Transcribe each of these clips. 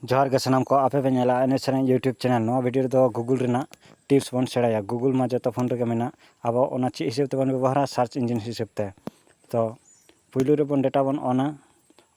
ᱡᱚᱦᱟᱨ ᱜᱮ ᱥᱟᱱᱟᱢ ᱠᱚ ᱟᱯᱮ ᱯᱮ ᱧᱮᱞᱟ ᱮᱱᱮᱡ ᱥᱮᱨᱮᱧ ᱤᱭᱩᱴᱩᱵᱽ ᱪᱮᱱᱮᱞ ᱱᱚᱣᱟ ᱵᱷᱤᱰᱤᱭᱳ ᱨᱮᱫᱚ ᱜᱩᱜᱩᱞ ᱨᱮᱱᱟᱜ ᱴᱤᱯᱥ ᱵᱚᱱ ᱥᱮᱬᱟᱭᱟ ᱜᱩᱜᱩᱞ ᱢᱟ ᱡᱚᱛᱚ ᱯᱷᱳᱱ ᱨᱮᱜᱮ ᱢᱮᱱᱟᱜ ᱟᱵᱚ ᱚᱱᱟ ᱪᱮᱫ ᱦᱤᱥᱟᱹᱵᱽ ᱛᱮᱵᱚᱱ ᱵᱮᱵᱚᱦᱟᱨᱟ ᱥᱟᱨᱪ ᱤᱧᱡᱤᱱ ᱦᱤᱥᱟᱹᱵᱽ ᱛᱮ ᱛᱚ ᱯᱩᱭᱞᱩ ᱨᱮᱵᱚᱱ ᱰᱮᱴᱟ ᱵᱚᱱ ᱚᱱᱟ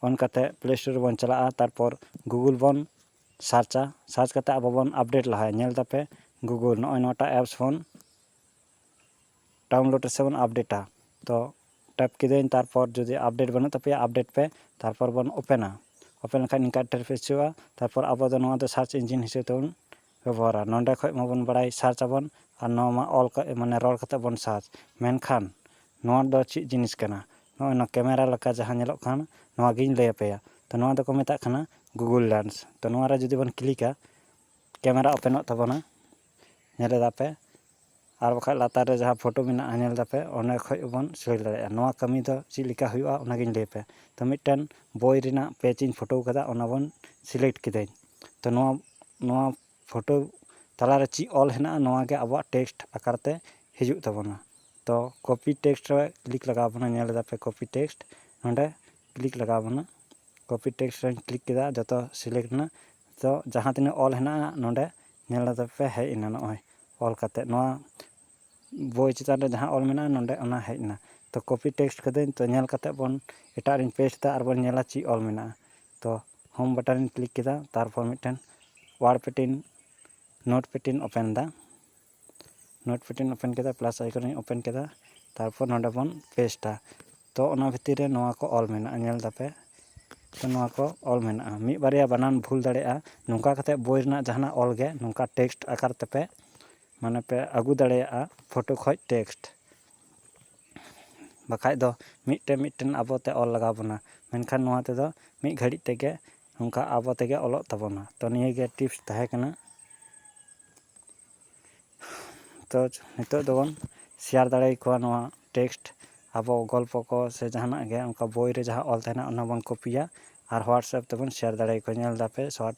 ᱚᱱ ᱠᱟᱛᱮᱫ ᱯᱞᱮ ᱥᱴᱳᱨ ᱨᱮᱵᱚᱱ ᱪᱟᱞᱟᱜᱼᱟ ᱛᱟᱨᱯᱚᱨ ᱜᱩᱜᱩᱞ ᱵᱚᱱ ᱥᱟᱨᱪᱟ ᱥᱟᱨᱪ ᱠᱟᱛᱮᱫ ᱟᱵᱚ ᱵᱚᱱ ᱟᱯᱰᱮᱴ ᱞᱟᱦᱟᱭᱟ ᱧᱮᱞ ᱫᱟᱯᱮ ᱜᱩᱜᱩᱞ ᱱᱚᱜᱼᱚᱭ ᱱᱚᱣᱟᱴᱟᱜ ᱮᱯᱥ ᱵᱚᱱ ᱰᱟᱣᱩᱱᱞᱳᱰ ᱥᱮᱵᱚᱱ ᱟᱯᱰᱮᱴᱟ ᱛᱚ ᱴᱮᱯ ᱠᱤᱫᱟᱹᱧ ᱛᱟᱨᱯᱚᱨ ᱡᱩᱫᱤ ᱟᱯᱰᱮᱴ ᱵᱟᱹᱱᱩᱜ ᱛᱟᱯᱮᱭᱟ ᱟᱯᱰᱮᱴ ᱯᱮ ᱛᱟᱨᱯᱚᱨ ᱵᱚᱱ ᱳᱯᱮᱱᱟ ᱳᱯᱮᱱ ᱞᱮᱠᱷᱟᱡ ᱱᱤᱝᱠᱟ ᱤᱱᱴᱟᱨᱯᱷᱮᱥ ᱦᱤᱡᱩᱜᱼᱟ ᱛᱟᱨᱯᱚᱨ ᱟᱵᱚ ᱫᱚ ᱱᱚᱣᱟ ᱫᱚ ᱥᱟᱨᱪ ᱤᱧᱡᱤᱱ ᱦᱤᱥᱟᱹᱵ ᱛᱮᱵᱚᱱ ᱵᱮᱵᱚᱦᱟᱨᱟ ᱱᱚᱸᱰᱮ ᱠᱷᱚᱡ ᱢᱟᱵᱚᱱ ᱵᱟᱲᱟᱭ ᱥᱟᱨᱪ ᱟᱵᱚᱱ ᱟᱨ ᱱᱚᱣᱟ ᱢᱟ ᱚᱞ ᱠᱟᱛᱮ ᱢᱟᱱᱮ ᱨᱚᱲ ᱠᱟᱛᱮ ᱵᱚᱱ ᱥᱟᱨᱪ ᱢᱮᱱᱠᱷᱟᱱ ᱱᱚᱣᱟ ᱫᱚ ᱪᱮᱫ ᱡᱤᱱᱤᱥ ᱠᱟᱱᱟ ᱱᱚᱜᱼᱚᱭ ᱱᱚᱣᱟ ᱠᱮᱢᱮᱨᱟ ᱞᱮᱠᱟ ᱡᱟᱦᱟᱸ ᱧᱮᱞᱚᱜ ᱠᱟᱱ ᱱᱚᱣᱟ ᱜᱤᱧ ᱞᱟᱹᱭ ᱟᱯᱮᱭᱟ ᱛᱚ ᱱᱚᱣᱟ ᱫᱚᱠᱚ ᱢᱮᱛᱟᱜ ᱠᱟᱱᱟ ᱜᱩᱜᱩᱞ ᱞᱮᱱᱥ ᱛᱚ ᱱᱚᱣᱟ ᱨᱮ ᱡᱩᱫᱤ ᱵᱚᱱ ᱠᱞᱤᱠᱟ ᱠᱮᱢᱮᱨᱟ ᱳᱯᱮᱱᱚᱜ ᱛᱟᱵᱚᱱᱟ ᱧᱮᱞ ᱮᱫᱟ ᱯᱮ ᱟᱨ ᱵᱟᱠᱷᱟᱡ ᱞᱟᱛᱟᱨ ᱨᱮ ᱡᱟᱦᱟᱸ ᱯᱷᱳᱴᱳ ᱢᱮᱱᱟᱜᱼᱟ ᱧᱮᱞ ᱫᱟᱯᱮ ᱚᱸᱰᱮ ᱠᱷᱚᱡ ᱦᱚᱸᱵᱚᱱ ᱥᱮᱞᱮᱠ ᱫᱟᱲᱮᱭᱟᱜᱼᱟ ᱱᱚᱣᱟ ᱠᱟᱹᱢᱤ ᱫᱚ ᱪᱮᱫ ᱞᱮᱠᱟ ᱦᱩᱭᱩᱜᱼᱟ ᱚᱱᱟ ᱜᱤᱧ ᱞᱟᱹᱭᱟᱯᱮ ᱛᱚ ᱢᱤᱫᱴᱮᱱ ᱵᱳᱭ ᱨᱮᱱᱟᱜ ᱯᱮᱡᱽ ᱤᱧ ᱯᱷᱳᱴᱳ ᱠᱟᱫᱟ ᱚᱱᱟ ᱵᱚᱱ ᱥᱮᱞᱮᱠᱴ ᱠᱤᱫᱟᱹᱧ ᱛᱚ ᱱᱚᱣᱟ ᱱᱚᱣᱟ ᱯᱷᱳᱴᱳ ᱛᱟᱞᱟ ᱨᱮ ᱪᱮᱫ ᱚᱞ ᱦᱮᱱᱟᱜᱼᱟ ᱱᱚᱣᱟ ᱜᱮ ᱟᱵᱚᱣᱟᱜ ᱴᱮᱠᱥᱴ ᱟᱠᱟᱨ ᱛᱮ ᱦᱤᱡᱩᱜ ᱛᱟᱵᱚᱱᱟ ᱛᱚ ᱠᱚᱯᱤ ᱴᱮᱠᱥᱴ ᱨᱮ ᱠᱞᱤᱠ ᱞᱟᱜᱟᱣ ᱵᱚᱱᱟ ᱧᱮᱞ ᱫᱟᱯᱮ ᱠᱚᱯᱤ ᱴᱮᱠᱥᱴ ᱱᱚᱰᱮ ᱠᱞᱤᱠ ᱞᱟᱜᱟᱣ ᱵᱚᱱᱟ ᱠᱚᱯᱤ ᱴᱮᱠᱥᱴ ᱨᱮᱧ ᱠᱞᱤᱠ ᱠᱮᱫᱟ ᱡᱚᱛᱚ ᱥᱤᱞᱮᱠᱴ ᱮᱱᱟ ᱛᱚ ᱡᱟᱦᱟᱸ ᱛᱤᱱᱟᱹᱜ ᱚᱞ ᱦᱮᱱᱟᱜᱼᱟ ᱱᱚᱰᱮ ᱧᱮᱞ ᱞᱮᱫᱟ ᱯᱮ ᱦᱮᱡ ᱮᱱᱟ ᱱᱚᱜᱼᱚᱭ ᱚᱞ ᱠᱟᱛᱮ ᱱᱚᱣᱟ ᱵᱳᱭ ᱪᱮᱛᱟᱱ ᱨᱮ ᱡᱟᱦᱟᱸ ᱚᱞ ᱢᱮᱱᱟᱜᱼᱟ ᱱᱚᱰᱮ ᱚᱱᱟ ᱦᱮᱡ ᱮᱱᱟ ᱛᱚ ᱠᱚᱯᱤ ᱴᱮᱠᱥᱴ ᱠᱟᱹᱫᱟᱹᱧ ᱛᱚ ᱧᱮᱞ ᱠᱟᱛᱮ ᱵᱚᱱ ᱮᱴᱟᱜ ᱨᱮᱧ ᱯᱮᱥᱴ ᱮᱫᱟ ᱟᱨ ᱵᱚᱱ ᱧᱮᱞᱟ ᱪᱮᱫ ᱚᱞ ᱢᱮᱱᱟᱜᱼᱟ ᱛᱚ ᱦᱳᱢ ᱵᱟᱴᱚᱱ ᱨᱮᱧ ᱠᱞᱤᱠ ᱠᱮᱫᱟ ᱛᱟᱨᱯᱚᱨ ᱢᱤᱫᱴᱮᱱ WordPad Notepad open ᱮᱫᱟ ᱱᱳᱴᱯᱮᱰ ᱤᱧ ᱳᱯᱮᱱ ᱠᱮᱫᱟ ᱯᱞᱟᱥ ᱟᱭᱠᱚᱱ ᱤᱧ ᱳᱯᱮᱱ ᱠᱮᱫᱟ ᱛᱟᱨᱯᱚᱨ ᱱᱚᱰᱮ ᱵᱚᱱ ᱯᱮᱥᱴᱟ ᱛᱚ ᱚᱱᱟ ᱵᱷᱤᱛᱤᱨ ᱨᱮ ᱱᱚᱣᱟ ᱠᱚ ᱚᱞ ᱢᱮᱱᱟᱜᱼᱟ ᱧᱮᱞ ᱫᱟᱯᱮ ᱛᱚ ᱱᱚᱣᱟ ᱠᱚ ᱚᱞ ᱢᱮᱱᱟᱜᱼᱟ ᱢᱤᱫ ᱵᱟᱨᱭᱟ ᱵᱟᱱᱟᱱ ᱵᱷᱩᱞ ᱫᱟᱲᱮᱭᱟᱜᱼᱟ ᱱᱚᱝᱠᱟ ᱠᱟᱛᱮ ᱵᱳᱭ ᱨᱮᱱᱟᱜ ᱡᱟᱦᱟᱱᱟᱜ ᱚᱞ ᱜᱮ ᱱᱚᱝᱠᱟ ᱴᱮᱠᱥᱴ ᱟᱠᱟᱨ ᱛᱮᱯᱮ ᱢᱟᱱᱮ ᱯᱮ ᱟᱹᱜᱩ ᱫᱟᱲᱮᱭᱟᱜᱼᱟ ᱯᱷᱳᱴᱳ ᱠᱷᱚᱡ ᱴᱮᱠᱥᱴ ᱵᱟᱠᱷᱟᱡ ᱫᱚ ᱢᱤᱫᱴᱮᱱ ᱢᱤᱫᱴᱮᱱ ᱟᱵᱚ ᱛᱮ ᱚᱞ ᱞᱟᱜᱟᱣ ᱵᱚᱱᱟ ᱢᱮᱱᱠᱷᱟᱱ ᱱᱚᱣᱟ ᱛᱮᱫᱚ ᱢᱤᱫ ᱜᱷᱟᱹᱲᱤᱡ ᱛᱮᱜᱮ ᱱᱚᱝᱠᱟ ᱟᱵᱚ ᱛᱮᱜᱮ ᱚᱞᱚᱜ ᱛᱟᱵᱚᱱᱟ ᱛᱚ ᱱᱤᱭᱟᱹᱜᱮ ᱴᱤᱯᱥ ᱛᱟᱦᱮᱸ ᱠᱟᱱᱟ ᱛᱚ ᱱᱤᱛᱚᱜ ᱫᱚᱵᱚᱱ ᱥᱮᱭᱟᱨ ᱫᱟᱲᱮᱭᱟᱠᱚᱣᱟ ᱱᱚᱣᱟ ᱴᱮᱠᱥᱴ ᱟᱵᱚ ᱜᱚᱞᱯᱚ ᱠᱚ ᱥᱮ ᱡᱟᱦᱟᱱᱟᱜ ᱜᱮ ᱚᱱᱠᱟ ᱵᱳᱭ ᱨᱮ ᱡᱟᱦᱟᱸ ᱚᱞ ᱛᱟᱦᱮᱱᱟ ᱚᱱᱟ ᱵᱚᱱ ᱠᱚᱯᱤᱭᱟ ᱟᱨ ᱦᱳᱣᱟᱴᱥᱮᱯ ᱛᱮᱵᱚᱱ ᱥᱮᱭᱟᱨ ᱫᱟᱲᱮᱭᱟᱠᱚᱣᱟ ᱧᱮᱞ ᱫᱟᱯᱮ ᱥᱳᱣᱟᱴ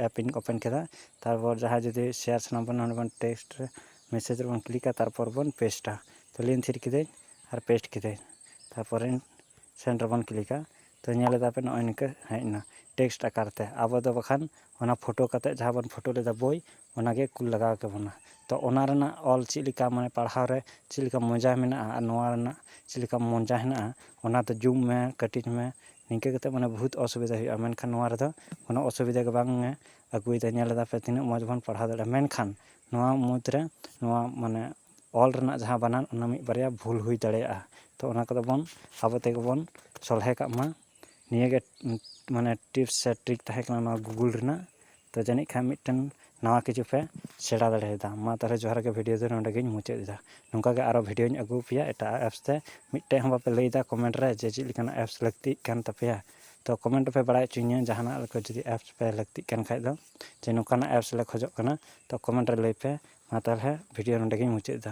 ᱮᱯ ᱤᱧ ᱳᱯᱮᱱ ᱠᱮᱫᱟ ᱛᱟᱨᱯᱚᱨ ᱡᱟᱦᱟᱸᱭ ᱡᱩᱫᱤ ᱥᱮᱭᱟᱨ ᱥᱟᱱᱟ ᱵᱚᱱᱟ ᱚᱸᱰᱮ ᱵᱚᱱ ᱴᱮᱠᱥᱴ ᱨᱮ ᱢᱮᱥᱮᱡᱽ ᱨᱮᱵᱚᱱ ᱠᱞᱤᱠᱟ ᱛᱟᱨᱯᱚᱨ ᱵᱚᱱ ᱯᱮᱥᱴᱟ ᱛᱚ ᱞᱤᱱ ᱛᱷᱤᱨ ᱠᱤᱫᱟᱹᱧ ᱟᱨ ᱯᱮᱥᱴ ᱠᱤᱫᱟᱹᱧ ᱛᱟᱨᱯᱚᱨᱮ ᱥᱮᱱᱰ ᱨᱮᱵᱚᱱ ᱠᱞᱤᱠᱟ ᱛᱚ ᱧᱮᱞ ᱮᱫᱟᱯᱮ ᱱᱚᱜᱼᱚᱭ ᱱᱤᱝᱠᱟᱹ ᱦᱮᱡ ᱮᱱᱟ ᱴᱮᱠᱥᱴ ᱟᱠᱟᱨ ᱛᱮ ᱟᱵᱚ ᱫᱚ ᱵᱟᱠᱷᱟᱱ ᱚᱱᱟ ᱯᱷᱳᱴᱳ ᱠᱟᱛᱮᱫ ᱡᱟᱦᱟᱸ ᱵᱚᱱ ᱯᱷᱳᱴᱳ ᱞᱮᱫᱟ ᱵᱳᱭ ᱚᱱᱟ ᱜᱮ ᱠᱩᱞ ᱞᱟᱜᱟᱣ ᱠᱮ ᱵᱚᱱᱟ ᱛᱚ ᱚᱱᱟ ᱨᱮᱱᱟᱜ ᱚᱞ ᱪᱮᱫ ᱞᱮᱠᱟ ᱢᱟᱱᱮ ᱯᱟᱲᱦᱟᱣ ᱨᱮ ᱪᱮᱫ ᱞᱮᱠᱟ ᱢᱚᱡᱟ ᱢᱮᱱᱟᱜᱼᱟ ᱟᱨ ᱱᱚᱣᱟ ᱨᱮᱱᱟᱜ ᱪᱮᱫ ᱞᱮᱠᱟ ᱢᱚᱡᱟ ᱦᱮᱱᱟᱜᱼᱟ ᱚᱱᱟ ᱫᱚ ᱡᱩᱢ ᱢᱮ ᱠᱟᱹᱴᱤᱡ ᱢᱮ ᱱᱤᱝᱠᱟᱹ ᱠᱟᱛᱮᱫ ᱢᱟᱱᱮ ᱵᱚᱦᱩᱛ ᱚᱥᱩᱵᱤᱫᱟ ᱦᱩᱭᱩᱜᱼᱟ ᱢᱮᱱᱠᱷᱟᱱ ᱱᱚᱣᱟ ᱨᱮᱫᱚ ᱠᱳᱱᱳ ᱚᱥᱩᱵᱤᱫᱟ ᱜᱮ ᱵᱟᱝ ᱮ ᱟᱹᱜᱩᱭᱮᱫᱟ ᱧᱮᱞ ᱮᱫᱟ ᱯᱮ ᱛᱤᱱᱟᱹᱜ ᱢᱚᱡᱽ ᱵᱚᱱ ᱯᱟᱲᱦᱟᱣ ᱫᱟᱲᱮᱭᱟᱜᱼᱟ ᱢᱮᱱᱠᱷᱟᱱ ᱱᱚᱣᱟ ᱢᱩᱫᱽ ᱨᱮ ᱱᱚᱣᱟ ᱢᱟᱱᱮ ᱚᱞ ᱨᱮᱱᱟᱜ ᱡᱟᱦᱟᱸ ᱵᱟᱱᱟᱱ ᱚᱱᱟ ᱢᱤᱫ ᱵᱟᱨᱭᱟ ᱵᱷᱩᱞ ᱦᱩᱭ ᱫᱟᱲᱮᱭᱟᱜᱼᱟ ᱛᱚ ᱚᱱᱟ ᱠᱚᱫᱚ ᱵᱚᱱ ᱟᱵᱚ ᱛᱮᱜᱮ ᱵᱚᱱ ᱥᱚᱞᱦᱮ ᱠᱟᱜ ᱢᱟ ᱱᱤᱭᱟᱹᱜᱮ ᱢᱟᱱᱮ ᱴᱤᱯᱥ ᱥᱮ ᱴᱨᱤᱠ ᱛᱟᱦᱮᱸ ᱠᱟᱱᱟ ᱱᱚᱣᱟ ᱜᱩᱜᱩᱞ ᱨᱮᱱᱟᱜ ᱛᱳ ᱡᱟᱹᱱᱤᱡ ᱠᱷᱟᱱ ᱢᱤᱫᱴᱮᱱ ᱱᱟᱣᱟ ᱠᱤᱪᱷᱩ ᱯᱮ ᱥᱮᱬᱟ ᱫᱟᱲᱮᱭᱟᱫᱟ ᱢᱟ ᱛᱟᱦᱚᱞᱮ ᱡᱚᱦᱟᱨ ᱜᱮ ᱵᱷᱤᱰᱤᱭᱳ ᱫᱚ ᱱᱚᱰᱮ ᱜᱤᱧ ᱢᱩᱪᱟᱹᱫ ᱮᱫᱟ ᱱᱚᱝᱠᱟ ᱜᱮ ᱟᱨᱚ ᱵᱷᱤᱰᱤᱭᱳᱧ ᱟᱹᱜᱩ ᱟᱯᱮᱭᱟ ᱮᱴᱟᱜ ᱟᱜ ᱮᱯᱥ ᱛᱮ ᱢᱤᱫᱴᱮᱡ ᱦᱚᱸ ᱵᱟᱯᱮ ᱞᱟᱹᱭᱫᱟ ᱠᱚᱢᱮᱱᱴ ᱨᱮ ᱡᱮ ᱪᱮᱫ ᱞᱮᱠᱟᱱᱟᱜ ᱮᱯᱥ ᱞᱟᱹᱠᱛᱤᱜ ᱠᱟᱱ ᱛᱟᱯᱮᱭᱟ ᱛᱳ ᱠᱚᱢᱮᱱᱴ ᱨᱮᱯᱮ ᱵᱟᱲᱟᱭ ᱦᱚᱪᱚᱧᱟ ᱡᱟᱦᱟᱱᱟᱜ ᱞᱮᱠᱟ ᱡᱩᱫᱤ ᱮᱯᱥ ᱯᱮ ᱞᱟᱹᱠᱛᱤᱜ ᱠᱟᱱ ᱠᱷᱟᱡ ᱫᱚ ᱡᱮ ᱱᱚᱝᱠᱟᱱᱟᱜ ᱮᱯᱥ ᱞᱮ ᱠᱷᱚᱡᱚᱜ ᱠᱟᱱᱟ ᱛᱳ ᱠᱚᱢᱮᱱᱴ ᱨᱮ ᱞᱟᱹᱭ ᱯᱮ ᱢᱟ ᱛᱟᱦᱚᱞᱮ ᱵᱷᱤᱰᱤᱭᱳ ᱱᱚᱰᱮ ᱜᱤᱧ ᱢᱩᱪᱟᱹᱫ ᱮᱫᱟ